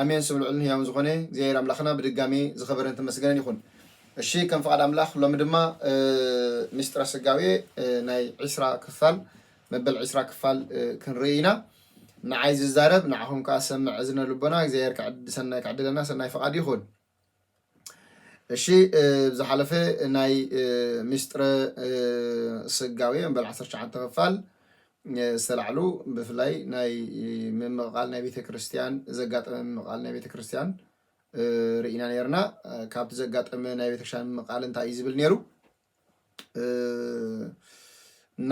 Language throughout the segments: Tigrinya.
ኣሜን ስም ልዑልን ህያውን ዝኾነ እግዚኣብሔር ኣምላኽና ብድጋሜ ዝኸበረን ዝተመስገነን ይኹን። እሺ ከም ፍቓድ ኣምላኽ ሎሚ ድማ ምስጢረ ስጋዌ ናይ ዒስራ ክፋል መበል ዒስራ ክፋል ክንርኢ ኢና። ንዓይ ዝዛረብ ንዓኹም ከኣ ዝሰምዕ እዝነ ልቦና እግዚኣብሔር ክዕድ ሰናይ ክዕድለና ሰናይ ፍቓዱ ይኹን። እሺ ብዝሓለፈ ናይ ሚስጥረ ስጋዌ መበል ዓሰርተ ትሽዓተ ክፋል ዝተላዕሉ ብፍላይ ናይ ምምቕቓል ናይ ቤተክርስትያን ዘጋጠመ ምምቕቓል ናይ ቤተክርስትያን ርኢና ነርና። ካብቲ ዘጋጠመ ናይ ቤተክርስትያን ምምቕቓል እንታይ እዩ ዝብል ነይሩ?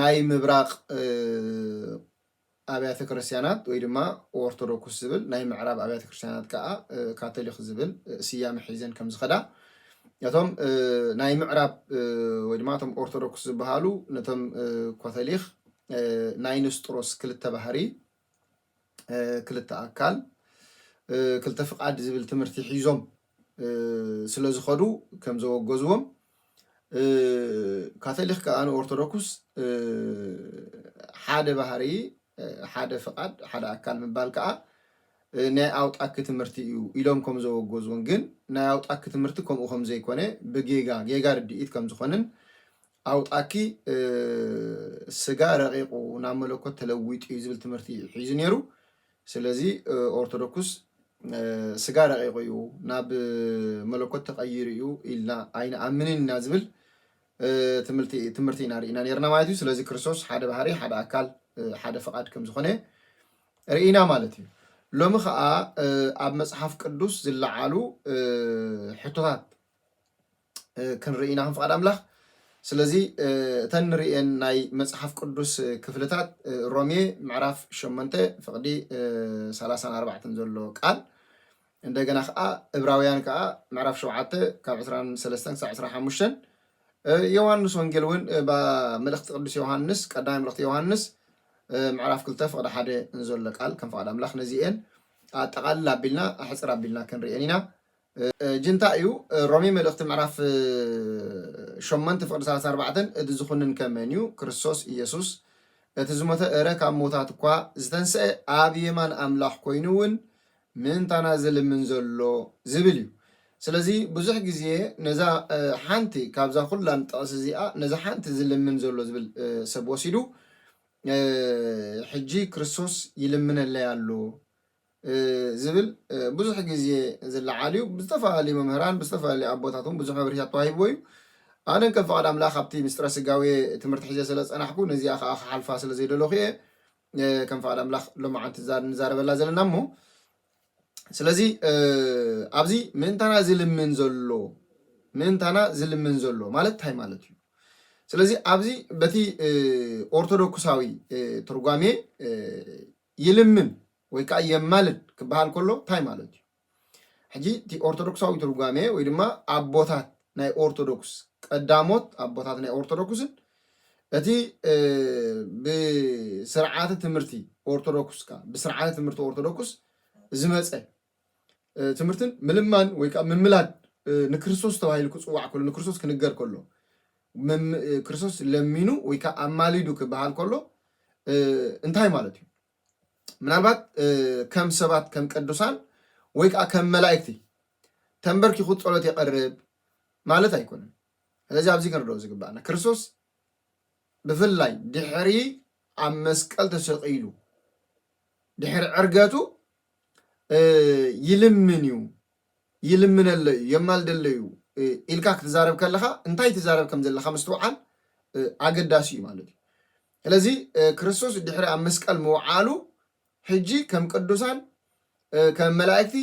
ናይ ምብራቕ ኣብያተ ክርስትያናት ወይ ድማ ኦርቶዶኩስ ዝብል ናይ ምዕራብ ኣብያተ ክርስትያናት ከኣ ካቶሊክ ዝብል ስያመ ሒዘን ከም ዝኸዳ እቶም ናይ ምዕራብ ወይ ድማ እቶም ኦርቶዶክስ ዝበሃሉ ነቶም ኮተሊክ ናይ ንስጥሮስ ክልተ ባህሪ ክልተ ኣካል ክልተ ፍቃድ ዝብል ትምህርቲ ሒዞም ስለ ዝኸዱ ከም ዘወገዝዎም ካቶሊክ ከኣ ንኦርቶዶክስ ሓደ ባህሪ ሓደ ፍቓድ ሓደ ኣካል ምባል ከኣ ናይ ኣውጣኪ ትምህርቲ እዩ ኢሎም ከም ዘወገዝዎን ግን ናይ ኣውጣኪ ትምህርቲ ከምኡ ከም ዘይኮነ ብጌጋ ጌጋ ርድኢት ከም ዝኾነን ኣውጣኪ ስጋ ረቂቁ ናብ መለኮት ተለዊጡ እዩ ዝብል ትምህርቲ እዩ ሒዙ ነይሩ። ስለዚ ኦርቶዶክስ ስጋ ረቂቁ እዩ ናብ መለኮት ተቀይሩ እዩ ኢልና ኣይንኣምንን ኢና ዝብል ትምህርቲ ኢና ርኢና ነርና ማለት እዩ። ስለዚ ክርስቶስ ሓደ ባህሪ፣ ሓደ ኣካል፣ ሓደ ፍቃድ ከም ዝኾነ ርኢና ማለት እዩ። ሎሚ ከዓ ኣብ መፅሓፍ ቅዱስ ዝለዓሉ ሕቶታት ክንርኢ ኢና ከም ፍቓድ ኣምላኽ። ስለዚ እተን ንርእየን ናይ መጽሓፍ ቅዱስ ክፍልታት ሮሜ ምዕራፍ ሸሞንተ ፍቕዲ ሰላሳን ኣርባዕተን ዘሎ ቃል እንደገና ከዓ እብራውያን ከዓ ምዕራፍ ሸውዓተ ካብ ዕስራን ሰለስተን ክሳብ ዕስራን ሓሙሽተን ዮሃንስ ወንጌል እውን መልእኽቲ ቅዱስ ዮሃንስ ቀዳማይ መልእኽቲ ዮሃንስ ምዕራፍ ክልተ ፍቕዲ ሓደ ንዘሎ ቃል ከም ፍቓድ ኣምላኽ ነዚኤን ኣጠቓልል ኣቢልና ኣሕፅር ኣቢልና ክንርእየን ኢና ጅንታ እዩ። ሮሜ መልእኽቲ ምዕራፍ ሸሞንተ ፍቕዲ ሰላሳ ኣርባዕተን እቲ ዝኹንን ከ መን እዩ? ክርስቶስ እየሱስ እቲ ዝሞተ እረ ካብ ሞታት እኳ ዝተንስአ ኣብ የማን ኣምላኽ ኮይኑ እውን ምእንታና ዝልምን ዘሎ ዝብል እዩ። ስለዚ ብዙሕ ግዜ ነዛ ሓንቲ ካብዛ ኩላን ጥቕሲ እዚኣ ነዛ ሓንቲ ዝልምን ዘሎ ዝብል ሰብ ወሲዱ ሕጂ ክርስቶስ ይልምነለይ ኣሎ ዝብል ብዙሕ ግዜ ዝለዓል እዩ። ብዝተፈላለዩ መምህራን ብዝተፈላለዩ ኣቦታት እውን ብዙሕ መብርሂታት ተዋሂብዎ እዩ። ኣነ ከም ፍቓድ ኣምላኽ ኣብቲ ምስጢረ ስጋዌ ትምህርቲ ሒዘ ስለ ዝጸናሕኩ ነዚኣ ከዓ ክሓልፋ ስለ ዘይደለኹ እየ ከም ፍቓድ ኣምላኽ ሎማዓንቲ ንዛረበላ ዘለና እሞ ስለዚ ኣብዚ ምእንታና ዝልምን ዘሎ ምእንታና ዝልምን ዘሎ ማለት እንታይ ማለት እዩ? ስለዚ ኣብዚ በቲ ኦርቶዶክሳዊ ትርጓሜ ይልምን ወይ ከኣ የማልድ ክበሃል ከሎ እንታይ ማለት እዩ? ሕጂ እቲ ኦርቶዶክሳዊ ትርጓሜ ወይ ድማ ኣቦታት ናይ ኦርቶዶክስ ቀዳሞት ኣቦታት ናይ ኦርቶዶክስን እቲ ብስርዓተ ትምህርቲ ኦርቶዶክስ ብስርዓተ ትምህርቲ ኦርቶዶክስ ዝመፀ ትምህርትን ምልማን ወይ ከዓ ምምላድ ንክርስቶስ ተባሂሉ ክፅዋዕ ከሎ ንክርስቶስ ክንገር ከሎ ክርስቶስ ለሚኑ ወይ ከዓ ኣማሊዱ ክበሃል ከሎ እንታይ ማለት እዩ? ምናልባት ከም ሰባት ከም ቅዱሳን ወይ ከዓ ከም መላእክቲ ተንበርኪኹ ፀሎት የቐርብ ማለት ኣይኮነን። ስለዚ ኣብዚ ክንርድኦ ዝግባኣና ክርስቶስ ብፍላይ ድሕሪ ኣብ መስቀል ተሰቂሉ ድሕሪ ዕርገቱ ይልምን እዩ ይልምነሎ እዩ የማልደሎ እዩ ኢልካ ክትዛረብ ከለኻ እንታይ ትዛረብ ከም ዘለካ ምስትውዓል ኣገዳሲ እዩ ማለት እዩ ስለዚ ክርስቶስ ድሕሪ ኣብ መስቀል ምውዓሉ ሕጂ ከም ቅዱሳን ከም መላእክቲ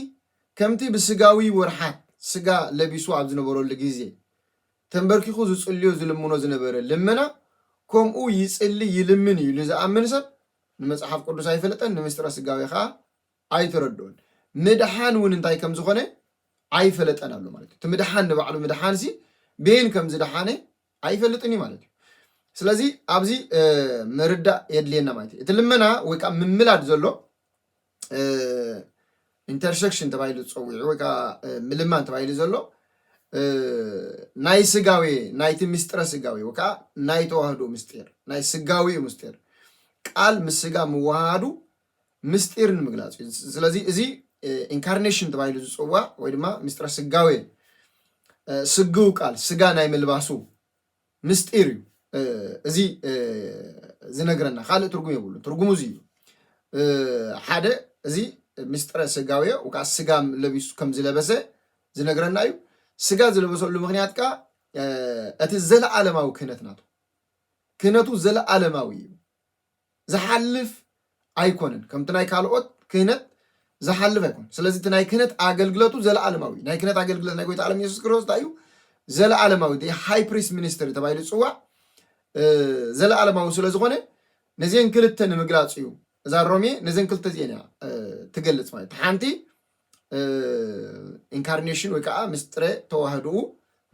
ከምቲ ብስጋዊ ወርሓት ስጋ ለቢሱ ኣብ ዝነበረሉ ግዜ ተንበርኪኹ ዝጽልዮ ዝልምኖ ዝነበረ ልመና ከምኡ ይጽሊ ይልምን እዩ ኢሉ ዝኣምን ሰብ ንመጽሓፍ ቅዱስ ኣይፈልጠን፣ ንምሥጢረ ሥጋዌ ኸኣ ኣይተረድኦን፣ ምድኃን እውን እንታይ ከም ዝኾነ ኣይፈለጠን ኣሎ ማለት እዩ። እቲ ምድኃን ንባዕሉ ምድኃን ሲ ቤን ከም ዝደኃነ ኣይፈልጥን እዩ ማለት እዩ። ስለዚ ኣብዚ ምርዳእ የድልየና ማለት እዩ። እቲ ልመና ወይ ከዓ ምምላድ ዘሎ ኢንተርሰክሽን ተባሂሉ ዝፀዊዑ ወይ ከዓ ምልማን ተባሂሉ ዘሎ ናይ ስጋዌ ናይቲ ምስጢረ ስጋዌ ወይ ከዓ ናይ ተዋህዶ ምስጢር ናይ ስጋዊ እዩ ምስጢር ቃል ምስ ስጋ ምወሃሃዱ ምስጢር ንምግላፅ እዩ ስለዚ እዚ ኢንካርኔሽን ተባሂሉ ዝፅዋዕ ወይ ድማ ምስጢረ ስጋዌ ስግው ቃል ስጋ ናይ ምልባሱ ምስጢር እዩ እዚ ዝነግረና ካልእ ትርጉም የብሉ ትርጉሙ እዚ እዩ ሓደ እዚ ምስጢረ ስጋዊ ወይከዓ ስጋ ለቢሱ ከም ዝለበሰ ዝነግረና እዩ ስጋ ዝለበሰሉ ምክንያት ከዓ እቲ ዘለዓለማዊ ክህነት ናቱ ክህነቱ ዘለዓለማዊ እዩ ዝሓልፍ ኣይኮነን ከምቲ ናይ ካልኦት ክህነት ዝሓልፍ ኣይኮነን ስለዚ እቲ ናይ ክህነት ኣገልግለቱ ዘለኣለማዊ እዩ ናይ ክህነት ኣገልግለት ናይ ጎይታ ዓለም ኢየሱስ ክርስቶስ እንታይ እዩ ዘለኣለማዊ ደ ሃይ ፕሪስ ሚኒስትሪ ተባሂሉ ዝፅዋዕ ዘለኣለማዊ ስለ ዝኾነ ነዚን ክልተ ንምግላፅ እዩ እዛ ሮሜ ነዘን ክልተ እዚኤን እያ ትገልፅ ማለት እቲ ሓንቲ ኢንካርኔሽን ወይ ከዓ ምስጢረ ተዋህድኡ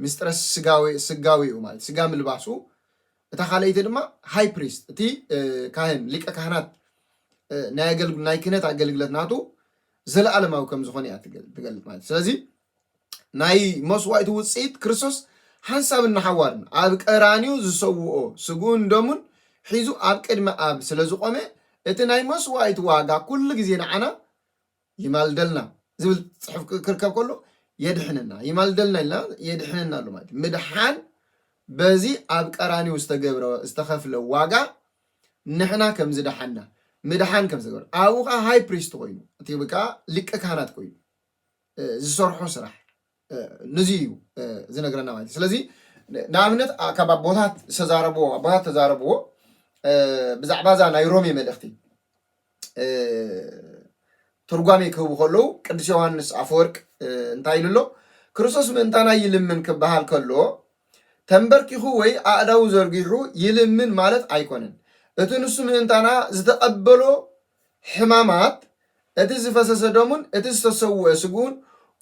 ምስጢረ ስጋዊ ስጋዊ እዩ ማለት ስጋ ምልባሱ እታ ካልኣይቲ ድማ ሃይ ፕሪስት እቲ ካህን ሊቀ ካህናት ናይ ክህነት ኣገልግለት ናቱ ዘለኣለማዊ ከም ዝኾነ እያ ትገልጽ ማለት ስለዚ ናይ መስዋእቲ ውጽኢት ክርስቶስ ሓንሳብን ንሓዋርን ኣብ ቀራንዮ ዝሰውኦ ስግኡን ደሙን ሒዙ ኣብ ቅድሚ ኣብ ስለ ዝቆመ እቲ ናይ መስዋእቲ ዋጋ ኩሉ ግዜ ንዓና ይማልደልና ዝብል ጽሑፍ ክርከብ ከሎ የድሕነና ይማልደልና ኢልና የድሕነና ኣሎ ማለት ምድሓን በዚ ኣብ ቀራኒው ዝተገብረ ዝተኸፍለ ዋጋ ንሕና ከም ዝደሓና ምድሓን ከም ዝተገብረ ኣብኡ ከዓ ሃይ ፕሪስት ኮይኑ እቲ ከዓ ሊቀ ካህናት ኮይኑ ዝሰርሖ ስራሕ ንዚ እዩ ዝነግረና ማለት እዩ ስለዚ ንኣብነት ካብ ኣቦታት ዝተዛረብዎ ኣቦታት ተዛረብዎ ብዛዕባ እዛ ናይ ሮሜ መልእኽቲ ትርጓሜ ክህቡ ከለዉ ቅዱስ ዮሃንስ ኣፈወርቅ እንታይ ኢሉ ኣሎ ክርስቶስ ምእንታና ይልምን ክበሃል ከሎ ተንበርኪኹ ወይ ኣእዳው ዘርጊሑ ይልምን ማለት ኣይኮነን እቲ ንሱ ምእንታና ዝተቐበሎ ሕማማት፣ እቲ ዝፈሰሰ ደሙን እቲ ዝተሰውኤ ስግኡን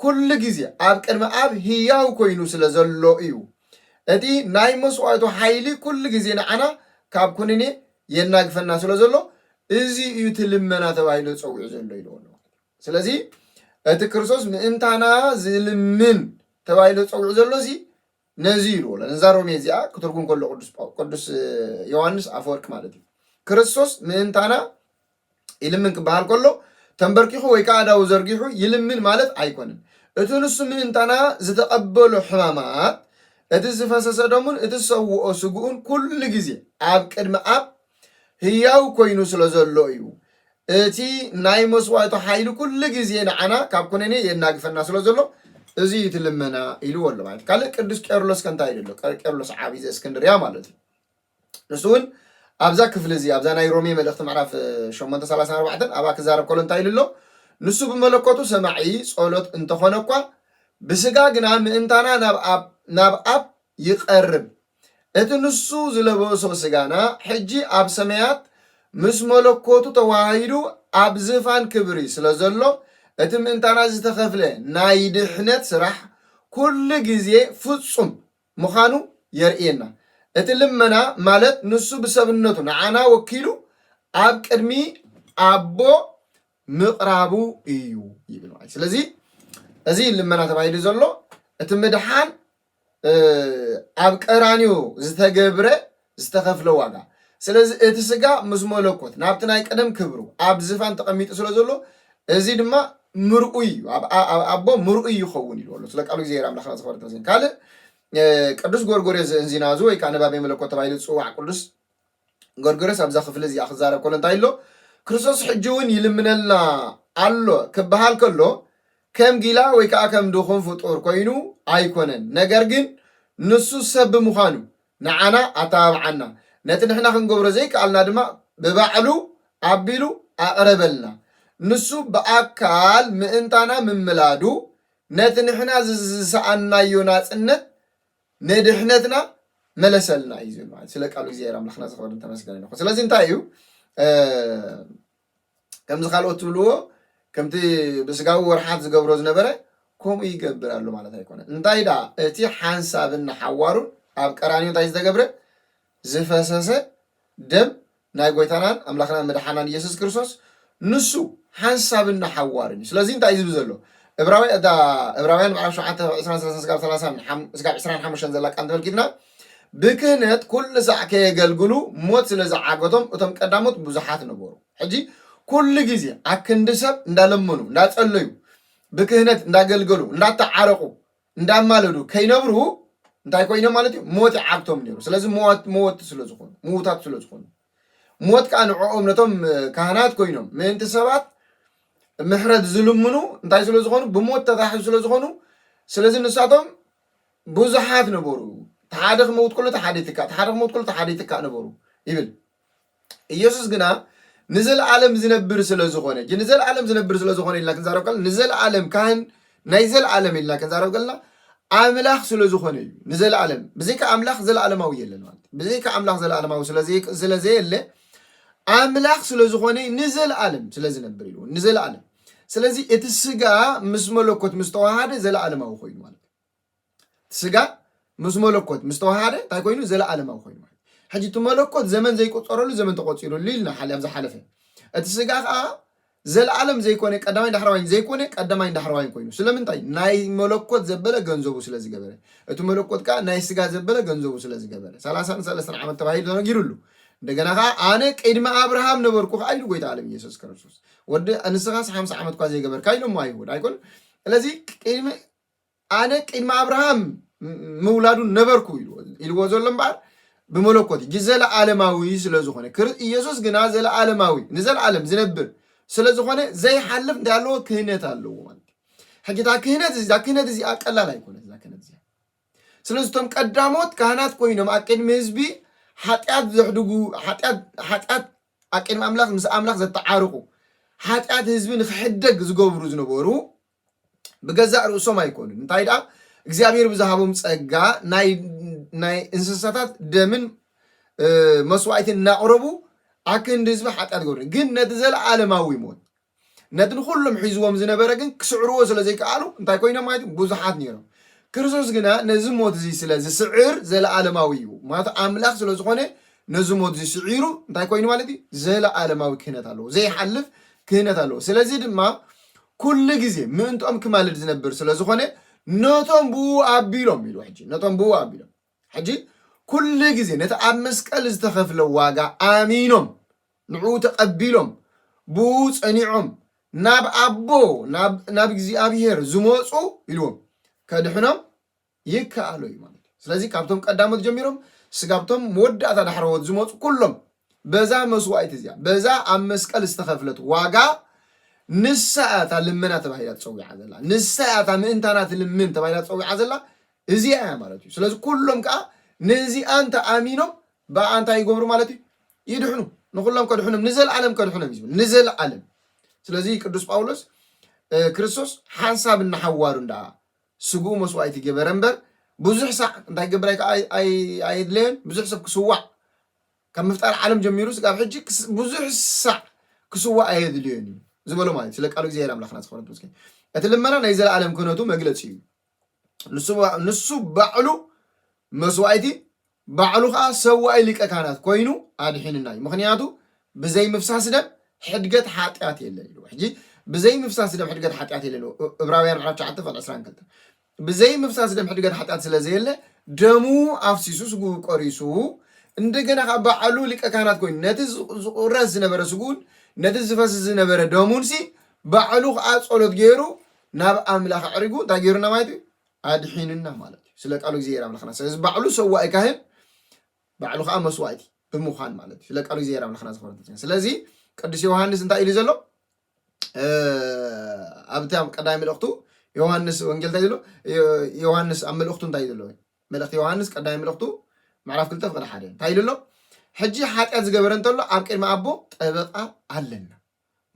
ኩሉ ግዜ ኣብ ቅድሚ ኣብ ህያው ኮይኑ ስለ ዘሎ እዩ። እቲ ናይ መስዋእቱ ሓይሊ ኩሉ ግዜ ንዓና ካብ ኩንኔ የናግፈና ስለ ዘሎ እዚ እዩ እቲ ልመና ተባሂሉ ተጸዊዑ ዘሎ ኢልዎ ኣሎ። ስለዚ እቲ ክርስቶስ ምእንታና ዝልምን ተባሂሉ ተጸዊዑ ዘሎሲ ነዚ እዩ ልወሎ ነዛ ሮሜ እዚኣ ክትርጉም ከሎ ቅዱስ ጳው- ቅዱስ ዮሐንስ ኣፈወርቅ ማለት እዩ ክርስቶስ ምእንታና ይልምን ክበሃል ከሎ ተንበርኪኹ ወይ ከዓ ኣዳው ዘርጊሑ ይልምን ማለት ኣይኮነን እቲ ንሱ ምእንታና ዝተቐበሎ ሕማማት እቲ ዝፈሰሰ ደሙን እቲ ዝሰውኦ ስግኡን ኩሉ ግዜ ኣብ ቅድሚ ኣብ ህያው ኰይኑ ስለ ዘሎ እዩ። እቲ ናይ መስዋእቱ ሓይሊ ኩሉ ግዜ ንዓና ካብ ኩነኔ የናግፈና ስለ ዘሎ እዚ እዩ እቲ ልመና ኢልዎ ኣሎ ማለት ካልእ ቅዱስ ቄርሎስ ከ እንታይ ኢሉ ኣሎ ቄርሎስ ዓብዪ ዘእስክንድርያ ማለት እዩ ንሱ እውን ኣብዛ ክፍሊ እዚ ኣብዛ ናይ ሮሜ መልእኽቲ ምዕራፍ 8 34 ኣብኣ ክዛረብ ከሎ እንታይ ኢሉ ኣሎ ንሱ ብመለኮቱ ሰማዒ ጸሎት እንተኾነ እኳ ብስጋ ግና ምእንታና ናብ ኣብ ናብ ኣብ ይቐርብ። እቲ ንሱ ዝለበሶ ስጋና ሕጂ ኣብ ሰማያት ምስ መለኮቱ ተዋሃሂዱ ኣብ ዝፋን ክብሪ ስለ ዘሎ፣ እቲ ምእንታና ዝተኸፍለ ናይ ድሕነት ስራሕ ኩሉ ግዜ ፍጹም ምኻኑ የርእየና። እቲ ልመና ማለት ንሱ ብሰብነቱ ንዓና ወኪሉ ኣብ ቅድሚ ኣቦ ምቕራቡ እዩ ይብል ማለት እዩ። ስለዚ እዚ ልመና ተባሂሉ ዘሎ እቲ ምድሓን ኣብ ቀራንዮ ዝተገብረ ዝተኸፍለ ዋጋ ስለዚ እቲ ስጋ ምስ መለኮት ናብቲ ናይ ቀደም ክብሩ ኣብ ዝፋን ተቐሚጡ ስለ ዘሎ እዚ ድማ ምርኡይ እዩ ኣብ ኣ- ኣብ ኣቦ ምርኡይ ይኸውን ኢልዎ ኣሎ ስለ ቃሉ እግዚኣብሔር ኣምላኽና ዝኸበረ ተመስገን ካልእ እ፣ ቅዱስ ጎርጎርዮስ ዘእንዚናዙ ወይ ከዓ ነባቤ መለኮት ተባሂሉ ዝፅዋዕ ቅዱስ ጎርጎርዮስ ኣብዛ ክፍሊ እዚኣ ክዛረብ ከሎ እንታይ ኢሎ ክርስቶስ ሕጂ እውን ይልምነልና ኣሎ ክበሃል ከሎ ከም ጊላ ወይ ከኣ ከም ድኹም ፍጡር ኮይኑ ኣይኮነን ነገር ግን ንሱ ሰብ ብምዃኑ ንዓና ኣተባብዓና ነቲ ንሕና ክንገብሮ ዘይከኣልና ድማ ብባዕሉ ኣቢሉ ኣቕረበልና ንሱ ብኣካል ምእንታና ምምላዱ ነቲ ንሕና ዝሰኣንናዮ ናጽነት ንድሕነትና መለሰልና እዩ ዝብል ማለት ስለ ቃሉ እግዚኣብሔር ኣምላክና ዝኸበርን ተመስገን ይኹን ስለዚ እንታይ እዩ ከምዚ ካልኦት ትብልዎ ከምቲ ብስጋዊ ወርሓት ዝገብሮ ዝነበረ ከምኡ ይገብር ኣሎ ማለት ኣይኮነ እንታይ ዳ እቲ ሓንሳብን ንሓዋሩን ኣብ ቀራንዮ እንታይ ዝተገብረ ዝፈሰሰ ደም ናይ ጐይታናን ኣምላኽናን መድሓናን ኢየሱስ ክርስቶስ ንሱ ሓንሳብን ንሓዋሩን እዩ። ስለዚ እንታይ እዩ ዝብል ዘሎ? እብራውያ- እታ እብራውያን ምዕራፍ ሸውዓተ ካብ ዕስራን ሰላሳን ስጋብ ሰላሳን ሓም- ስጋብ ዕስራን ሓሙሽተን ዘላ ቃል እንተመልኪትና ብክህነት ኩሉ ሳዕ ከየገልግሉ ሞት ስለ ዝዓገቶም እቶም ቀዳሞት ብዙሓት ነበሩ። ሕጂ ኩሉ ግዜ ኣክንዲ ሰብ እንዳለመኑ እንዳጸለዩ ብክህነት እንዳገልገሉ እንዳተዓረቑ እንዳማለዱ ከይነብሩ እንታይ ኮይኖም ማለት እዩ ሞት ይዓግቶም ነይሩ ስለዚ ሞት ሞት ስለ ዝኾኑ ምዉታት ስለ ዝኾኑ ሞት ከዓ ንዕኦም ነቶም ካህናት ኮይኖም ምእንቲ ሰባት ምሕረት ዝልምኑ እንታይ ስለ ዝኾኑ ብሞት ተታሕዙ ስለ ዝኾኑ ስለዚ ንሳቶም ብዙሓት ነበሩ ተሓደ ክመውት ከሎ ተሓደ ይትካእ ተሓደ ክመውት ከሎ ተሓደ ይትካእ ነበሩ ይብል ኢየሱስ ግና ንዘለዓለም ዚነብር ስለ ዝኾነ ጂ ንዘለዓለም ዚነብር ስለ ዝኾነ ኢልና ክንዛረብ ከለና ንዘለዓለም ካህን ናይ ዘለዓለም ኢልና ክንዛረብ ከለና ኣምላኽ ስለ ዝኾነ እዩ ንዘለዓለም ብዘይካ ኣምላኽ ዘለዓለማዊ የለን ማለት እዩ ብዘይካ ኣምላኽ ዘለዓለማዊ ስለዘይ- ስለዘየለ ኣምላኽ ስለ ዝኾነ ንዘለዓለም ስለ ዝነብር ኢሉ ንዘለዓለም ስለዚ እቲ ስጋ ምስ መለኮት ምስ ተዋሃደ ዘለዓለማዊ ኮይኑ ማለት እዩ እቲ ስጋ ምስ መለኮት ምስ ተዋሃደ እንታይ ኮይኑ ዘለኣለማዊ ኮይኑ ማለት ሕጂ እቲ መለኮት ዘመን ዘይቆፀረሉ ዘመን ተቆፂሩሉ ኢልና ሓሊ ኣብ ዝሓለፈ እቲ ስጋ ከዓ ዘለኣለም ዘይኮነ ቀዳማይ ዳሕረዋይን ዘይኮነ ቀዳማይን ዳሕረዋይን ኮይኑ ስለምንታይ ናይ መለኮት ዘበለ ገንዘቡ ስለ ዝገበረ እቲ መለኮት ከዓ ናይ ስጋ ዘበለ ገንዘቡ ስለ ዝገበረ ሰላሳን ሰለስተን ዓመት ተባሂሉ ተነጊሩሉ እንደገና ከዓ ኣነ ቅድሚ ኣብርሃም ነበርኩ ከዓ ኢሉ ጎይታ ዓለም ኢየሱስ ክርስቶስ ወዲ ንስኻስ ሓምሳ ዓመት እኳ ዘይገበርካ ኢሎሞ ኣይሁድ ኣይኮን ስለዚ ቅድሚ ኣነ ቅድሚ ኣብርሃም ምውላዱ ነበርኩ ኢልዎ ዘሎ እምበኣር ብመለኮት እዩ ዘለኣለማዊ ስለ ዝኾነ ኢየሱስ ግና ዘለኣለማዊ ንዘለኣለም ዝነብር ስለ ዝኾነ ዘይሓልፍ እንታይ ኣለዎ ክህነት ኣለዎ ማለት እዩ ሕጂ እታ ክህነት እዚ እዛ ክህነት እዚኣ ቀላል ኣይኮነት እዛ ክህነት እዚኣ ስለዚ እቶም ቀዳሞት ካህናት ኮይኖም ኣብ ቅድሚ ህዝቢ ሓጢኣት ዘሕድጉ ሓጢኣት ኣብ ቅድሚ ኣምላኽ ምስ ኣምላኽ ዘተዓርቑ ሓጢኣት ህዝቢ ንክሕደግ ዝገብሩ ዝነበሩ ብገዛእ ርእሶም ኣይኮኑን እንታይ ደኣ እግዚኣብሔር ብዝሃቦም ጸጋ ናይ እንስሳታት ደምን መስዋዕትን እናቕረቡ ኣክንዲ ህዝቢ ሓጢኣት ገሩ ግን ነቲ ዘለኣለማዊ ሞት ነቲ ንኩሎም ሒዝዎም ዝነበረ ግን ክስዕርዎ ስለ ዘይከኣሉ እንታይ ኮይኖም ማለት እዩ ብዙሓት ነይሮም ክርስቶስ ግና ነዚ ሞት እዚ ስለ ዝስዕር ዘለኣለማዊ እዩ ማለት ኣምላኽ ስለ ዝኾነ ነዚ ሞትዚ ስዒሩ እንታይ ኮይኑ ማለት እዩ ዘለኣለማዊ ክህነት ኣለዎ ዘይሓልፍ ክህነት ኣለዎ ስለዚ ድማ ኩሉ ግዜ ምእንትኦም ክማልድ ዝነብር ስለ ዝኾነ ነቶም ብኡ ኣቢሎም ኢሉ ሕጂ ነቶም ብኡ ኣቢሎም ሕጂ ኩሉ ግዜ ነቲ ኣብ መስቀል ዝተኸፍለ ዋጋ ኣሚኖም ንዕኡ ተቐቢሎም ብኡ ጸኒዖም ናብ ኣቦ ናብ እግዚኣብሄር ዝመፁ ኢልዎም ከድሕኖም ይከኣሎ እዩ ማለት እዩ። ስለዚ ካብቶም ቀዳሞት ጀሚሮም ስጋብቶም መወዳእታ ዳሕረዎት ዝመፁ ኩሎም በዛ መስዋእቲ እዚኣ በዛ ኣብ መስቀል ዝተኸፍለት ዋጋ ንሳ እያ እታ ልመና ተባሂላ ትፀዊዓ ዘላ ንሳ እያ እታ ምእንታና ትልምን ተባሂላ ትፀዊዓ ዘላ እዚኣ እያ ማለት እዩ ስለዚ ኩሎም ከዓ ነዚኣ እንተ ኣሚኖም ብኣ እንታይ ይገብሩ ማለት እዩ ይድሕኑ ንኩሎም ከድሕኖም ንዘለዓለም ከድሕኖም እዩ ንዘለዓለም ስለዚ ቅዱስ ጳውሎስ ክርስቶስ ሓንሳብ እናሓዋሩ እንዳ ስግኡ መስዋእቲ ገበረ እምበር ብዙሕ ሳዕ እንታይ ክገብር ኣየድለዮን። ብዙሕ ሰብ ክስዋዕ ካብ ምፍጣር ዓለም ጀሚሩ ስጋብ ሕጂ ብዙሕ ሳዕ ክስዋዕ ኣየድልዮን እዩ ዝበሎ ማለት ስለ ቃሉ እግዚኣብሔር ኣምላኽና ዝኸበረ ተመስገን። እቲ ልመና ናይ ዘለኣለም ክህነቱ መግለጺ እዩ። ንሱ ባዕሉ መስዋእቲ ባዕሉ ከኣ ሰዋኢ ሊቀ ካህናት ኮይኑ ኣድሒንና እዩ ምክንያቱ ብዘይ ምፍሳስ ደም ሕድገት ሓጥያት የለን ኢልዎ ሕጂ ብዘይ ምፍሳስ ደም ሕድገት ሓጥያት የለን ኢልዎ እብራውያን ምዕራፍ ትሽዓተ ቁጽሪ ዕስራን ክልተን ብዘይ ምፍሳስ ደም ሕድገት ሓጥያት ስለ ዘየለ ደሙ ኣፍሲሱ ስግኡ ቆሪሱ እንደገና ከኣ ባዕሉ ሊቀ ካህናት ኮይኑ ነቲ ዝቁረስ ዝነበረ ስግኡን ነቲ ዝፈስስ ዝነበረ ደሙን ሲ ባዕሉ ከኣ ጸሎት ገይሩ ናብ ኣምላኽ ኣዕሪጉ እንታይ ገይሩና ማለት እዩ ኣድሒኑና ማለት እዩ ስለ ቃሉ እግዚኣብሔር ኣምላክና ስለዚ ባዕሉ ሰዋኢ ካህን ባዕሉ ከዓ መስዋእቲ ብምዃን ማለት እዩ ስለ ቃሉ እግዚኣብሔር ኣምላክና ዝኸበረ ስለዚ ቅዱስ ዮሃንስ እንታይ ኢሉ ዘሎ ኣብቲ ኣብ ቀዳሚ መልእኽቱ ዮሃንስ ወንጌል እንታይ ዘሎ ዮሃንስ ኣብ መልእኽቱ እንታይ ዘሎ መልእኽቲ ዮሃንስ ቀዳሚ መልእኽቱ ምዕራፍ ክልተ ፍቅዲ ሓደ እንታይ ኢሉ ኣሎ ሕጂ ሓጢኣት ዝገበረ እንተሎ ኣብ ቅድሚ ኣቦ ጠበቃ ኣለና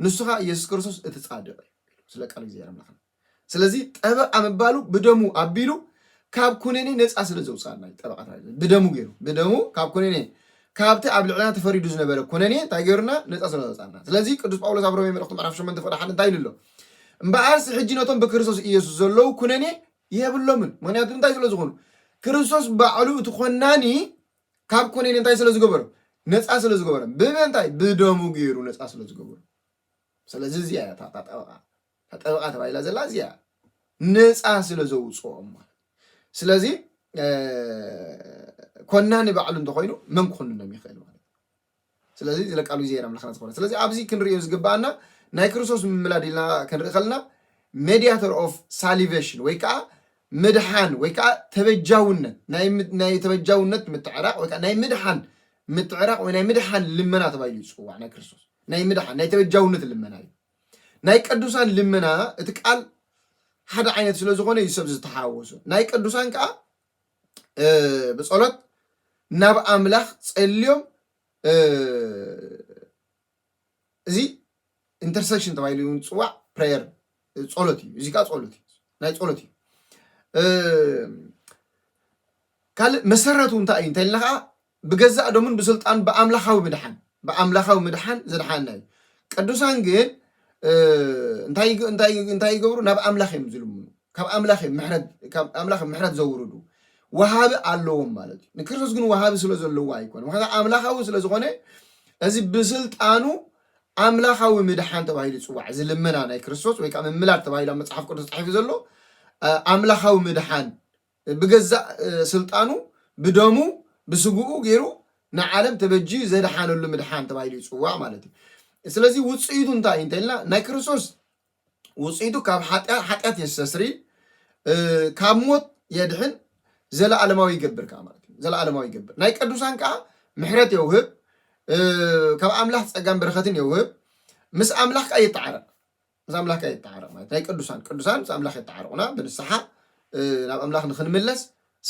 ንሱ ከኣ ኢየሱስ ክርስቶስ እቲ ጻድቕ እዩ ስለ ቃል እግዚኣብሔር ኣምላኽና ስለዚ ጠበቃ ምባሉ ብደሙ ኣቢሉ ካብ ኩነኔ ነፃ ስለ ዘውፅኣና እዩ ጠበቃ ብደሙ ገይሩ ብደሙ ካብ ኩነኔ ካብቲ ኣብ ልዕልና ተፈሪዱ ዝነበረ ኩነኔ እንታይ ገይሩና ነፃ ስለ ዘውፅኣና ስለዚ ቅዱስ ጳውሎስ ኣብ ሮሜ መልእኽቱ ምዕራፍ 8 ፍቅዲ ሓደ እንታይ ኢሉ ኣሎ እምበኣርስ ሕጂ ነቶም ብክርስቶስ ኢየሱስ ዘለዉ ኩነኔ የብሎምን ምክንያቱ እንታይ ስለ ዝኾኑ ክርስቶስ ባዕሉ እቲ ኮናኒ ካብ ኩኒን እንታይ ስለ ዝገበሮ ነፃ ስለ ዝገበሮ ብምንታይ ብደሙ ገይሩ ነፃ ስለ ዝገበሮ ስለዚ እዚኣ እያ እታ ጠበቃ እታ ጠበቃ ተባሂላ ዘላ እዚኣ ነፃ ስለ ዘውፅኦም ማለት ስለዚ ኮናኒ ባዕሉ እንተኮይኑ መን ክኮንኖም ይኽእል ማለት ስለዚ እዚ ለቃሉ እግዚኣብሔር ኣምላክና ዝኮነ ስለዚ ኣብዚ ክንሪኦ ዝግባኣና ናይ ክርስቶስ ምምላድ ኢልና ክንርኢ ከለና ሜዲያተር ኦፍ ሳሊቬሽን ወይ ከዓ ምድሓን ወይ ከዓ ተበጃውነት ናይ ተበጃውነት ምትዕራቅ ወይ ከዓ ናይ ምድሓን ምትዕራቅ ወይ ናይ ምድሓን ልመና ተባሂሉ ይፅዋዕ ናይ ክርስቶስ ናይ ምድሓን ናይ ተበጃውነት ልመና እዩ ናይ ቅዱሳን ልመና እቲ ቃል ሓደ ዓይነት ስለ ዝኾነ እዩ ሰብ ዝተሓዋወሶ ናይ ቅዱሳን ከዓ ብጸሎት ናብ ኣምላኽ ጸልዮም እዚ ኢንተርሴክሽን ተባሂሉ እውን ዝፅዋዕ ፕሬየር ጸሎት እዩ እዚ ከዓ ጸሎት እዩ ናይ ጸሎት እዩ ካልእ መሰረቱ እንታይ እዩ እንተልና ከዓ ብገዛእ ደሙን ብስልጣን ብኣምላኻዊ ምድሓን ብኣምላኻዊ ምድሓን ዘድሓና እዩ። ቅዱሳን ግን እንታይ ይገብሩ? ናብ ኣምላኽ እዮም ዝልምኑ፣ ካብ ኣምላኽ እዮም ምሕረት ዘውርዱ። ወሃቢ ኣለዎም ማለት እዩ። ንክርስቶስ ግን ወሃቢ ስለ ዘለዎ ኣይኮነ፣ ምክንያቱ ኣምላኻዊ ስለ ዝኾነ እዚ ብስልጣኑ ኣምላኻዊ ምድሓን ተባሂሉ ይፅዋዕ። እዚ ልመና ናይ ክርስቶስ ወይ ከዓ ምምላድ ተባሂሉ ኣብ መፅሓፍ ቅዱስ ተፃሒፉ ዘሎ ኣምላኻዊ ምድሓን ብገዛእ ስልጣኑ ብደሙ ብስግኡ ጌሩ ንዓለም ተበጂዩ ዘድሓነሉ ምድሓን ተባሂሉ ይጽዋዕ ማለት እዩ። ስለዚ ውጽኢቱ እንታይ እዩ እንተኢልና ናይ ክርስቶስ ውጽኢቱ ካብ ሓጢኣት ሓጢኣት የስተስሪ ካብ ሞት የድሕን ዘለኣለማዊ ይገብር ከዓ ማለት እዩ። ዘለኣለማዊ ይገብር ናይ ቅዱሳን ከዓ ምሕረት የውህብ ካብ ኣምላኽ ጸጋን በረኸትን የውህብ ምስ ኣምላኽ ከዓ የተዓረቕ ምስ ኣምላክ ኣይተዓረቅ ማለት ናይ ቅዱሳን ቅዱሳን ምስ ኣምላክ የተዓርቁና ብንስሓ ናብ ኣምላክ ንክንምለስ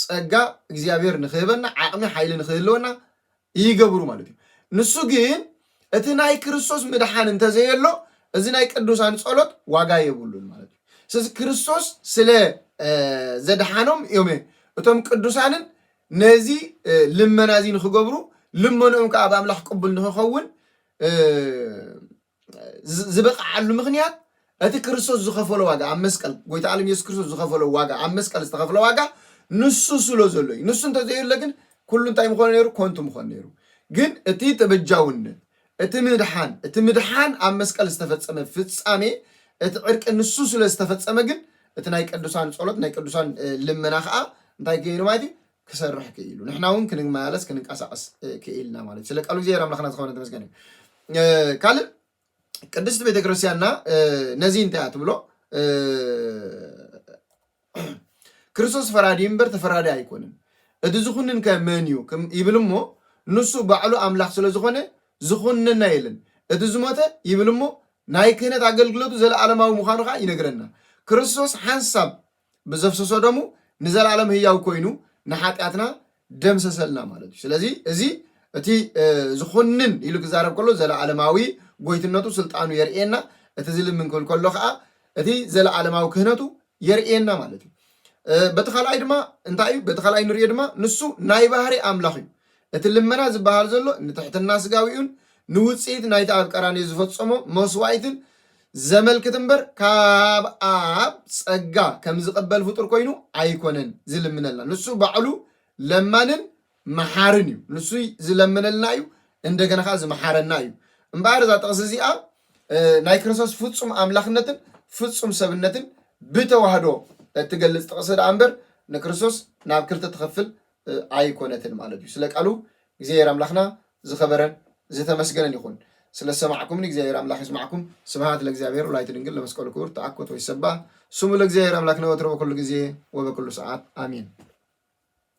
ጸጋ እግዚኣብሔር ንክህበና ዓቅሚ ሓይሊ ንክህልወና ይገብሩ ማለት እዩ ንሱ ግን እቲ ናይ ክርስቶስ ምድሓን እንተዘየሎ እዚ ናይ ቅዱሳን ጸሎት ዋጋ የብሉን ማለት እዩ ስለዚ ክርስቶስ ስለ ዘድሓኖም እዮም እቶም ቅዱሳንን ነዚ ልመና እዚ ንክገብሩ ልመንኦም ከዓ ኣብ ኣምላኽ ቅቡል ንክኸውን ዝበቕዓሉ ምኽንያት እቲ ክርስቶስ ዝኸፈሎ ዋጋ ኣብ መስቀል ጎይታ ዓለም ኢየሱስ ክርስቶስ ዝኸፈሎ ዋጋ ኣብ መስቀል ዝተኸፍለ ዋጋ ንሱ ስለ ዘሎ እዩ። ንሱ እንተዘየለ ግን ኩሉ እንታይ ምኾነ ነይሩ? ኮንቱ ምኾነ ነይሩ። ግን እቲ ተበጃውነት፣ እቲ ምድሓን፣ እቲ ምድሓን ኣብ መስቀል ዝተፈጸመ ፍጻሜ፣ እቲ ዕርቂ ንሱ ስለ ዝተፈጸመ ግን እቲ ናይ ቅዱሳን ጸሎት፣ ናይ ቅዱሳን እ፣ ልመና ኸኣ እንታይ ገይሩ ማለት እዩ? ክሰርሕ ክኢሉ ንሕና እውን ክንመላለስ ክንንቀሳቀስ ክኢልና ማለት እዩ ስለ ቃሉ እግዚኣብሔር ኣምላክና ዝኸነ ተመስገን እዩ ካልእ ቅድስቲ ቤተክርስትያንና ነዚ እንታይ እያ ትብሎ ክርስቶስ ፈራዲ እምበር ተፈራዲ ኣይኮንን እቲ ዝኹንን ከ መን እዩ ይብል እሞ ንሱ ባዕሉ ኣምላክ ስለ ዝኾነ ዝኹንነና የለን እቲ ዝሞተ ይብል እሞ ናይ ክህነት ኣገልግሎቱ ዘለዓለማዊ ምዃኑ ከዓ ይነግረና ክርስቶስ ሓንሳብ ብዘፍሰሶ ደሙ ንዘለኣለም ህያው ኮይኑ ንሓጢኣትና ደምሰሰልና ማለት እዩ ስለዚ እዚ እቲ ዝኹንን ኢሉ ክዛረብ ከሎ ዘለኣለማዊ ጎይትነቱ ስልጣኑ የርእየና እቲ ዝልምን ክብል ከሎ ከዓ እቲ ዘለኣለማዊ ክህነቱ የርእየና ማለት እዩ በቲ ካልኣይ ድማ እንታይ እዩ በቲ ካልኣይ ንሪኦ ድማ ንሱ ናይ ባህሪ ኣምላኽ እዩ እቲ ልመና ዝበሃል ዘሎ ንትሕትና ስጋዊኡን ንውፅኢት ናይቲ ኣብ ቀራንዮ ዝፈፀሞ መስዋእትን ዘመልክት እምበር ካብ ኣብ ጸጋ ከም ዝቕበል ፍጡር ኮይኑ ኣይኮነን ዝልምነልና። ንሱ ባዕሉ ለማንን መሓርን እዩ። ንሱ ዝለምነልና እዩ፣ እንደገና ከኣ ዝመሓረና እዩ። እምበኣር እዛ ጥቕሲ እዚኣ ናይ ክርስቶስ ፍጹም ኣምላኽነትን ፍጹም ሰብነትን ብተዋህዶ እትገልጽ ጥቕሲ ደኣ እምበር ንክርስቶስ ናብ ክልተ ትኸፍል ኣይኮነትን ማለት እዩ ስለ ቃሉ እግዚኣብሔር ኣምላክና ዝከበረን ዝተመስገነን ይኩን ስለ ዝሰማዕኩምኒ እግዚኣብሔር ኣምላክ ይስማዕኩም ስብሃት ለእግዚኣብሔር ወላዲቱ ድንግል ለመስቀሉ ክቡር ተኣኮት ወይሰባህ ስሙ ለእግዚኣብሔር ኣምላክነ ወትሩ በኩሉ ግዜ ወበኩሉ ሰዓት ኣሜን።